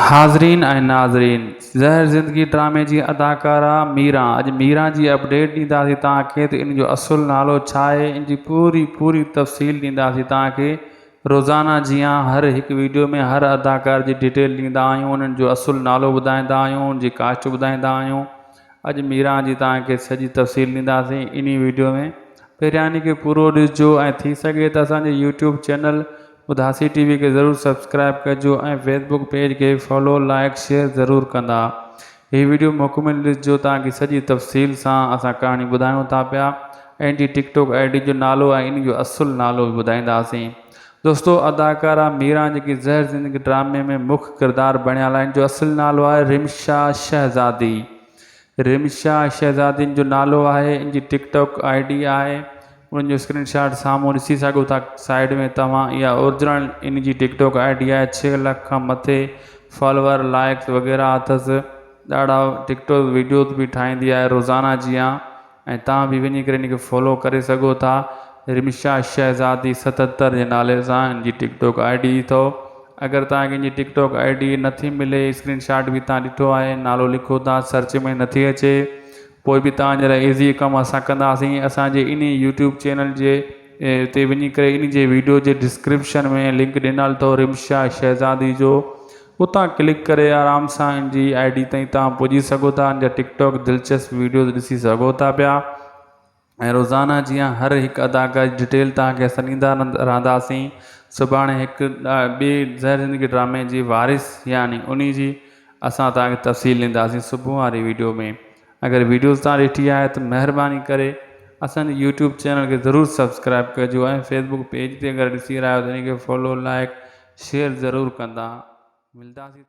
حاضرين ۽ ناظرين زهر زندگي ڊرامي جي اداڪارا ميران اڄ ميران جي اپڊيٽ ڏينداسين توهان کي ته ان جو اصل نالو ڇا آهي ان جي پوري پوري تفصيل ڏينداسين توهان کي روزانه جيان هر هڪ ويڊيو ۾ هر اداڪار جي ڊيٽيل ڏيندا آهيون انهن جو اصل نالو ٻڌائيندا آهيون ان جي ڪاسٽ ٻڌائيندا آهيون اڄ ميران جي توهان کي سڄي تفصيل ڏينداسين انهي ويڊيو ۾ پهريان ان کي پورو ڏسجو ۽ ٿي سگهي ته اسان جي YouTube channel Udasi T V کي ضرور سبسڪرائب ڪجو ۽ فيس بوڪ پيج کي فالو لائيڪ شيئر ضرور ڪندا هي ويڊيو مڪمل ڏسجو تان ڪي سڄي تفصيل سان اسان ڪهاڻي ٻڌايون ٿا پيا ان جي ٽڪ ٽوڪ آئي ڊي جو نالو ۽ ان جو اصل نالو به ٻڌائينداسين دوستو اداڪارا ميران جيڪي زهر زندگي ڊرامي ۾ مک ڪردار بڻيل آهن جو اصل نالو آهي رمشا شهزادي رمشا شهزادين جو نالو آهي ان جي ٽڪ ٽاڪ آئي ڊي آهي ان جو اسڪرين شاٽ سامهون ڏسي سگهو ٿا سائيڊ ۾ توهان اها اورجنل ان جي ٽڪ ٽاڪ آئي ڊي آهي ڇهه لک کان مٿي فالوور لائڪس وغيره اٿس ڏاڍا ٽڪ ٽاڪ ويڊيوز به ٺاهيندي آهي روزانه جيان ۽ توهان به وڃي ڪري ان کي فالو ڪري سگهو ٿا رمشا شهزادي ستهتر جي نالي سان ان جي ٽڪ ٽاڪ آئي ڊي اٿو اگر توهان کي ان جي ٽڪ ٽاڪ آئي ڊي نه ٿي ملي اسڪرين شاٽ به توهان ڏٺو آهي نالو لکو ٿا سرچ ۾ نه ٿي اچي پوء به توهان جي لاء ايزي ڪم اسان ڪنداسين اسان جي انهي يوٽيوب چينل جي تي وڃي ڪري ان جي ويڊيو جي ڊسڪرپشن ۾ لنڪ ڏنل اٿو رمشا شهزادي جو اتان ڪلڪ ڪري آرام سان ان جي آئي ڊي تائين توهان پڄي سگهو ٿا ان جا ٽڪ ٽاڪ دلچسپ ويڊيوز ڏسي سگهو ٿا پيا ۽ روزانه جيان هر هڪ اداڪار جي ڊيٽيل توهان کي اسان ڏيندا رهنداسين سڀاڻي هڪ ٻي زهر زندگي ڊرامي جي وارث يعني ان جي اسان توهان کي تفصيل ڏينداسين صبح واري ويڊيو ۾ اگر ويڊيوز توهان ڏٺي آهي ته مهرباني ڪري اسانجي يوٽيوب چينل کي ضرور سبسڪرائب ڪجو ۽ فيسبوڪ پيج تي اگر ڏسي رهيا آهيو ته ان کي فالو لائڪ شيئر ضرور ڪندا ملداسين